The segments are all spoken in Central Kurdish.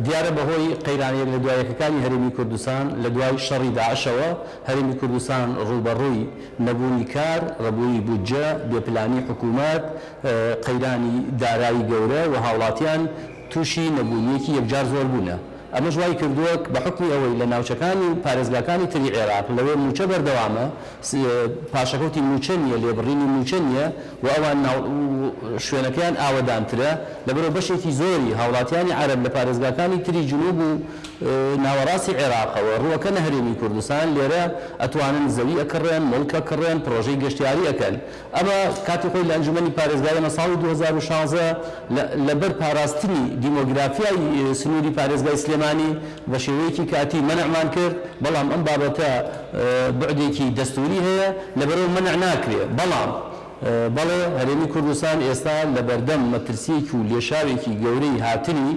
دیارە بەهۆی قەیرانە یەک لە دوا یەکەکانی هەرێمی کوردستان لە دوای شەڕی داعشەوە هەرێمی کوردستان ڕووبەڕووی نەبوونی کار، ڕبوونی بودجە، بێپلانی حکوومەت، قەیرانی دارایی گەورە و هاوڵاتیان تووشی نەبوونییەکی یەکجار زۆر بوونە. ئەمەش وای کردووە بە حوکمی ئەوەی لە ناوچەکانی و پارێزگاکانی تری عێراق لەوێ مووچە بەردەوامە، پاشەکەوتی مووچە نییە، لێبڕینی مووچە نییە، و ئەوان ناو و شوێنەکەیان ئاوەدانترە، لەبەرئەوە بەشێکی زۆری هاوڵاتیانی عەرەب لە پارێزگاکانی تری جنوب و ناوەڕاستی عێراقەوە رووەکەنە هەرێمی کوردستان، لێرە ئەتوانن زەوی ئەکڕێن، موڵک ئەکڕێن، پڕۆژەی گەشتیاری ئەکەن. ئەمە کاتی خۆی لە ئەنجومەنی پارێزگای ئێمە ساڵی دوو هەزار و شازدە لە لەبەر پاراستنی دیمۆگرافیای سنووری پارێزگای سلێمانی بە شێوەیەکی کاتی مەنعمان کرد، بەڵام ئەم بابەتە، بوعدێکی دەستووری هەیە، لەبەرئەو مەنع ناکرێ، بەڵام بەڵێ هەرێمی کوردستان ئێستا لەبەردەم مەترسییەکی و لێشاوێکی گەورەی هاتنی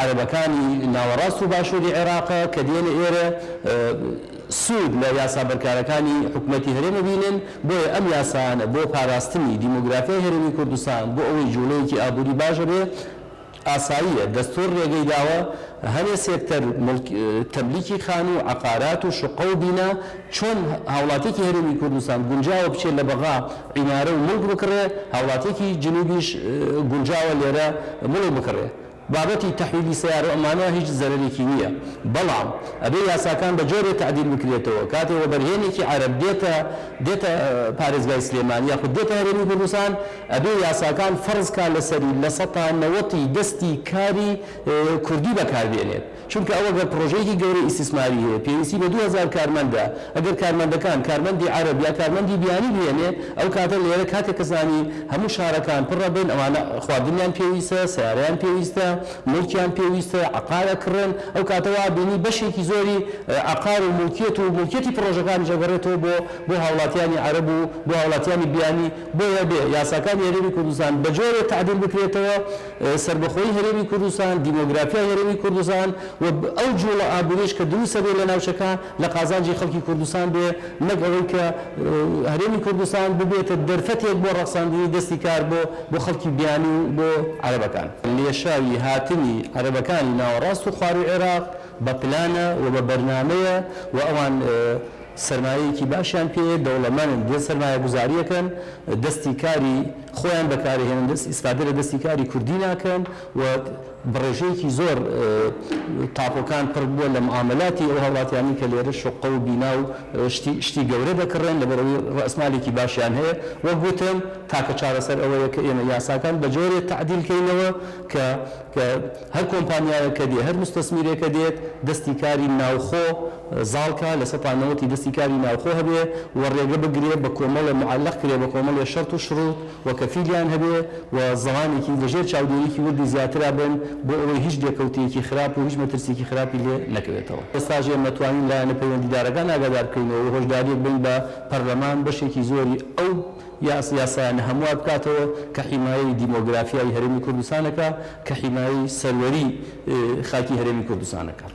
عەرەبەکانی ناوەڕاست و باشووری عێراقە کە دێنە ئێرە سوود لە یاسا بەرکارەکانی حکومەتی هەرێم ئەبینن، بۆیە ئەم یاسایانە بۆ پاراستنی دیمۆگرافیای هەرێمی کوردستان بۆ ئەوەی جووڵەیەکی ئابووری باش هەبێ، ئاساییە دەستوور رێگەی داوە هەنێ سێکتەر موڵک تەملیکی خانوو و عەقارات و شوققە و بینا چۆن هاوڵاتیەکی هەرێمی کوردستان گونجاوە بچێ لە بەغا عیمارە و موڵک بکڕێ هاوڵاتیەکی جنوبیش گونجاوە لێرە موڵک بکڕێ بابەتی تەحویلی سەیارە و ئەمانە هیچ زەرەرێکی نیە بەڵام ئەبێ یاساکان بە جۆرێ تەعدیل بکرێتەوە کاتێ وەبەرهێنێکی عەرەب دێتە دێتە پارێزگای سلێمانی یاخود دێتە هەرێمی کوردستان ئەبێ یاساکان فەرز کا لەسەری لە سەتا نەوەتی دەستی کاری کوردی بەکار بێنێت چونکە ئەو گەر پرۆژەیەکی گەورەی ئیستیسماری هەیە پێویستی بە دوو هەزار کارمەندە ئەگەر کارمەندەکان کارمەندی عەرەب یا کارمەندی بیانی بهێنێ ئەو کاتە لێرە کاتێ کە زانی هەموو شارەکان پرە بن ئەوانە خواردنیان پێویستە سەیارەیان پێویستە موڵکیان پێویستە عەقار ئەکڕن ئەو کاتە وا ئەبینی بەشێکی زۆری عەقار و موڵکیەت و موڵکیەتی پرۆژەکانیش ئەگەڕێتەوە بۆ بۆ هاوڵاتیانی عەرەب و بۆ هاوڵاتیانی بیانی بۆیە بێ یاساکانی هەرێمی کوردستان بەجۆرێ تەعدیل بکرێتەوە، سەربەخۆیی هەرێمی کوردستان، دیمۆگرافیای هەرێمی کوردستان و ئەو جووڵە ئابووریەش کە دروست ئەبێ لە ناوچەکە لە قازانجی خەڵکی کوردستان بێ نەک ئەوەی کە هەرێمی کوردستان ببێتە دەرفەتێک بۆ ڕەخساندنی دەستی کار بۆ بۆ خەڵکی بیانی و بۆ عەرەبەکان. لێشاوی هاتنی عەرەبەکانی ناوەڕاست و خواروی عێراق بە پلانە و بە بەرنامەیە و ئەوان سەرمایەیەکی باشیان پێیە، دەوڵەمەنن، دێن سەرمایەگوزارییەکەن، دەستی کاری خۆیان بەکارئەهێنن، ئیسفادە لە دەستی کاری کوردی ناکەن و بە ڕێژەیەکی زۆر قاپۆکان پڕ بووە لە معامەلاتی ئەو هاوڵاتیانەی کە لێرە شوققە و بینا و شتی شتی گەورە دەکڕێن لەبەرئەوەی ڕەئسمالێکی باشیان هەیە. وەک وتم تاکە چارەسەر ئەوەیە کە ئێمە یاساکان بە جۆرێ تەعدیل کەینەوە کە کە هەر کۆمپانیایەکە دێ هەر موستەسمیرێکە دێت دەستی کاری ناوخۆ زاڵ کا لە سەد تا نەوەتی دەستی کاری ناوخۆ هەبێ و ڕێگە بگرێ بە کۆمەڵێ معەلەق کرێ بە کۆمەڵێ شەرت و شڕوت و کەفیلیان هەبێ و زەمانێکی لە ژێر چاودێریی وردی زیاترا بن بۆ ئەوەی هیچ لێکەوتەیەکی خراپ و هیچ مەترسیەکی خراپی لێ نەکەوێتەوە. ئێستاش ئێمە توانین لایەنە پەیوەندیدارەکان ئاگادار بکەینەوە و هۆشداریەک بەین بە پەرلەمان بەشێکی زۆری ئەو یا یاسایانە هەموار بکاتەوە کە حیمایەی دیمۆگرافیای هەرێمی کوردستان ئەکا، کە حیمایەی سەروەری خاکی هەرێمی کوردستان ئەکات.